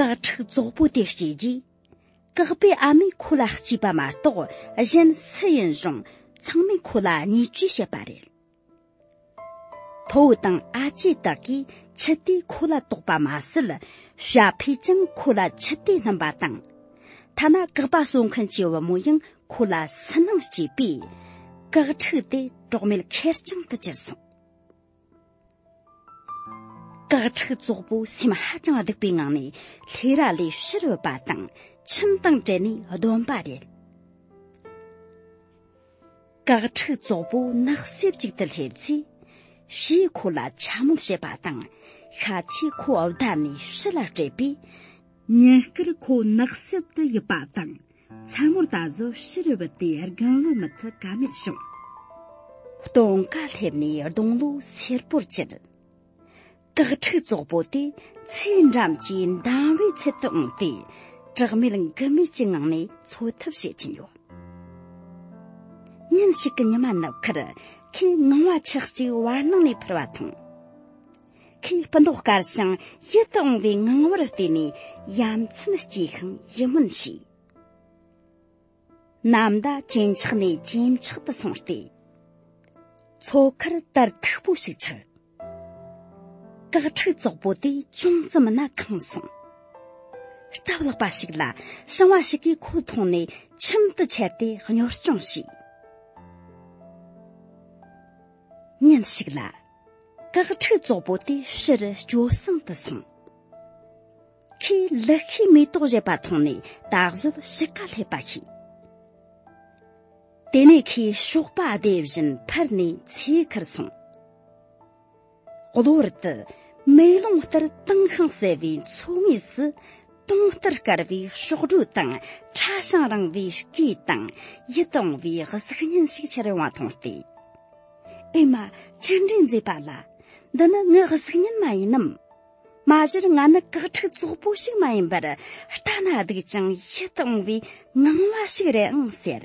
དགག་ཕྲུག་ཙོག་པོ་དེ་བྱས་རྗེས་དགག་པའི་ཨ་མས་ཁོ་ལ་སྐྱིས་པ་མ་གཏོགས་གཞན་སུ་ཡིན་རུང་ཚང་མས་ཁོ་ལ་བརྙས་བཅོས་བྱེད་པ་རེད་ཕུ་བོ་དང་ཨ་ཅེ་དག་གིས་ཆུ་དེ་ཁོ་ལ་དོགས་པ་མ་ཟད་ཞྭ་ཕོས་ཀྱང་ཁོ་ལ་ཆུ་དེ་བསྣུན་པ་དང་ཐ་ན་དགག་པ་གསོ་མཁན་གྱི་བུ་མོ་ཡང་ཁོ་ལ་སུན་སྣང་སྐྱེས་པས་དགག་ཕྲུག་དེ་གྲོགས་མེད་ཁེར་རྐྱང་དུ་གྱུར་སོང། དག་ཁྲིག་རྫོགས་པོ་སེམས་ཧ་ཅང་སྡུག་པའི་ངང་ནས་ལྷས་ར་ལས་ཕྱིར་བུད་པ་དང་ཁྱིམ་དང་བྲལ་ནས་སྡོམ་པ་རེད། དག་ཁྲིག་རྫོགས་པོ་ནགས་གསེབ་ཅིག་ཏུ་སླེབས་ཚེ་ཞེས་ཁོ་ལ་འཕྱ་དམོད་བྱེད་པ་དང་ཤ་ཆེ་ཁོ་བདའ་ནས་ཕྱི་ལ་བསྐྲད་པས་ཉིན་སྐར་ཁོ་ནགས་གསེབ་ཏུ་ཡིབ་པ་དང་མཚན་མོར་ད་གཟོད་ཕྱི་རུ་བུད་དེ་རྒན་ལོ་མི་ཐི་ག་མེད་བྱུང། སྟོང་ཀ་སླེབས་ནས་སྡོང་ལོ་སེར་པོར་གྱུར། སྐག་ཕྲུག་ཙོག་པོ་དེ་ཚེ་འགྲམ་གྱི་འདམ་བའི་ཚལ་དུ་འོངས་ཏེ་གྲགས་མེད་འགུལ་མེད་ཀྱི་ངང་ནས་འཚོ་ཐབས་བྱེད་ཀྱིན་ཡོད། ཉིན་ཞིག་གི་ཉི་མ་ནུབ་ཁར་ཁོས་ངང་བ་ཆགས་ཅིག་བར་སྣང་ནས་ཕུར་བ་དང། ཁའི་སྤུ་མདོག་དཀར་ཞིང་ཡིད་དུ་འོང་བའི་ངང་བར་བལྟས་ནས་ཡ་མཚན་སྐྱེས་ཤིང་ཡིད་སྨོན་བྱས། ནམ་ཟླ་ཇེ་འཁྱགས་ནས་ཇེ་འཁྱགས་དུ་སོང་སྟེ། མཚོ་ཁར་དར་མཐུག་པོ་ཞིག་ཆགས། སྐག་ཕྲུག་ཙོག་པོ་དེ་ཅུང་ཙམ་སྣ་གང་སོང། སྟབས་ལེགས་པ་ཞིག་ལ་ཞིང་བ་ཞིག་གིས་ཁོ་མཐོང་ནས་ཁྱིམ་དུ་ཁྱེར་ཏེ་གཉོར་སྐྱོང་བྱས། ཉིན་ཞིག་ལ། དགག་ཕྲུག་ཙོག་པོ་དེ་ཕྱིར་སྐྱོ་སང་དུ་སོང། ཁོས་ལི་ཤིའི་མེ་ཏོག་བཞད་པ་མཐོང་ནས་ད་གཟོད་ཕྱི་ཀ་སླེབས་པ་ཤེས། དེ་ནས་ཁོས་ཞོགས་པ་བསྡད་བཞིན་ཕར་ནས་ཚེ་ཁར་སོང། གློ་བུར་དུ་མེ་ལོང་ལྟར་དྭངས་ཤིང་གསལ་བའི་མཚོ་ངོས་སུ་སྟོང་ལྟར་དཀར་བའི་གཤོག་སྒྲོ་དང་ཁྲ་ཞིང་རིང་བའི་སྐེ་དང་ཡིད་དུ་འོང་བའི་གཟུགས་བརྙན་ཞིག་འཆར་ཡོང་བ་མཐོང་སྟེ། ཨེ་མ་ཅི་འདྲའི་མཛེས་པ་ལ་འདི་ནི་ངའི་གཟུགས་བརྙན་མ་ཡིན་ནམ། མ་གཞིར་ང་ནི་བཀག་ཁྲིག་ཙོག་པོ་ཞིག་མ་ཡིན་པར་ལྟ་ན་སྡུག་ཅིང་ཡིད་དུ་འོང་བའི་སྣང་བ་ཞིག་རེད་ཨང་ཟེར།